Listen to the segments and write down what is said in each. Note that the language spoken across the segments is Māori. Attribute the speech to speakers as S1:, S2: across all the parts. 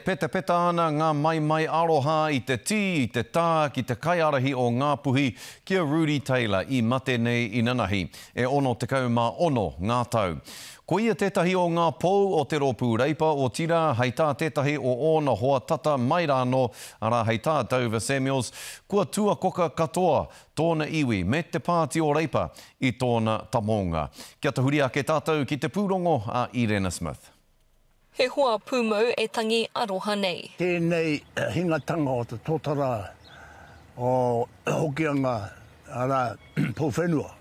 S1: Petapeta ana ngā maimai aroha i te tī, i te tā ki te kaiārahi o Ngāpuhi, ki a Rudi Taylor i mate nei inanahi, e 66 ngā tau. Ko ia tētahi o ngā pou o te Rōpū Reipa, otirā, hei tā tētahi o ōna hoa tata mai rānō, arā, hei tā Dover Samuels, kua tuakoka katoa tōna iwi me te Pāti o Reipa i tōna tamounga. Kia tahuri ake tātou ki te pūrongo a Irena Smith. He hoa
S2: pūmau e tangi aroha nei. Tēnei
S3: hingatanga o te totara o Hokianga, arā, Pūwhenua.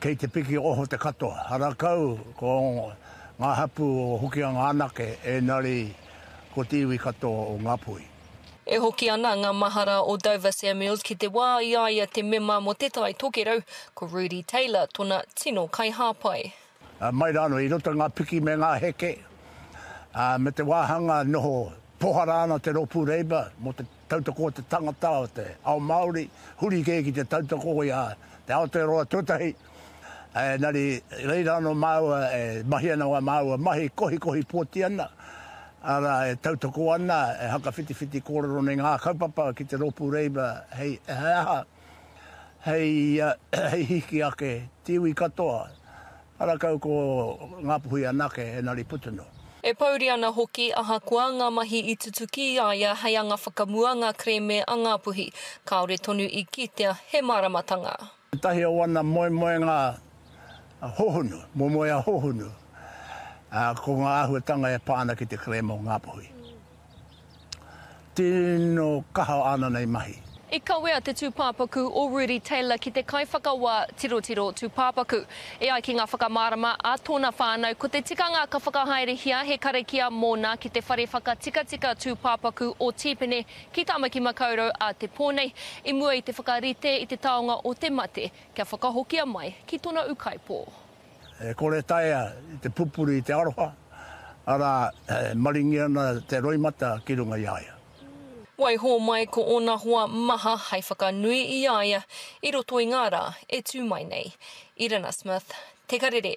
S3: Kei te piki oho te katoa. Ara kau ko ngā hapū o Hokianga anake, ēnari ko te iwi katoa o Ngāpuhi. E hoki ana
S2: ngā mahara o Dover Samuels ki te wā i a ia te mema mō Te Tai Tokerau, ko Rudi Taylor tona tino kaihāpai. Mai rānō
S3: i roto i ngā piki me ngā heke, ā, me te wāhanga noho pohara ana te rōpū Labour mō te tautoko o te tangata, o te ao Māori, huri kē ki te tautoko i a te Aotearoa tuatahi. Engari, i reira anō māua e mahi ana wā māua mahi, e kohikohi pōti ana, arā, e tautoko ana, e hakawhitiwhiti kōrero nei ngā kaupapa ki te rōpū Labour hei he aha, hei hiki ake te iwi katoa, ara kau ko Ngapuhi anake engari putu noa. E pouri ana
S2: hoki ahakoa ngā mahi i tutuki i a ia hei anga whakamua ngā kerēme a Ngapuhi, kāore tonu i kitea he māramatanga. Ētahi o ana
S3: moemoenga hohonu, moemoeā hohonu, ko ngā āhuatanga e pā ana ki te kerēme o Ngapuhi. Tino kaha ana nei mahi. I kawea te
S2: tūpāpaku o Rudi Taylor ki te kaiwhakawā tirotiro tūpāpaku. E ai ki ngā whakamārama a tōna whānau, ko te tikanga ka whakahaerehia he karakia mōna ki te whare whakatikatika tūpāpaku o Tīpene ki Tāmaki Makaurau a Te Pō nei, i mua i te whakarite i te taonga o te mate, kia whakahokia mai ki tona ukaipo. E kore
S3: taea te pupuri i te aroha, arā, e maringi ana te roimata ki runga i a ia. Waiho
S2: mai ko ōna hoa maha hai whakanui i a ia i roto i ngā rā e tū mai nei. Irena Smith, Te Karere.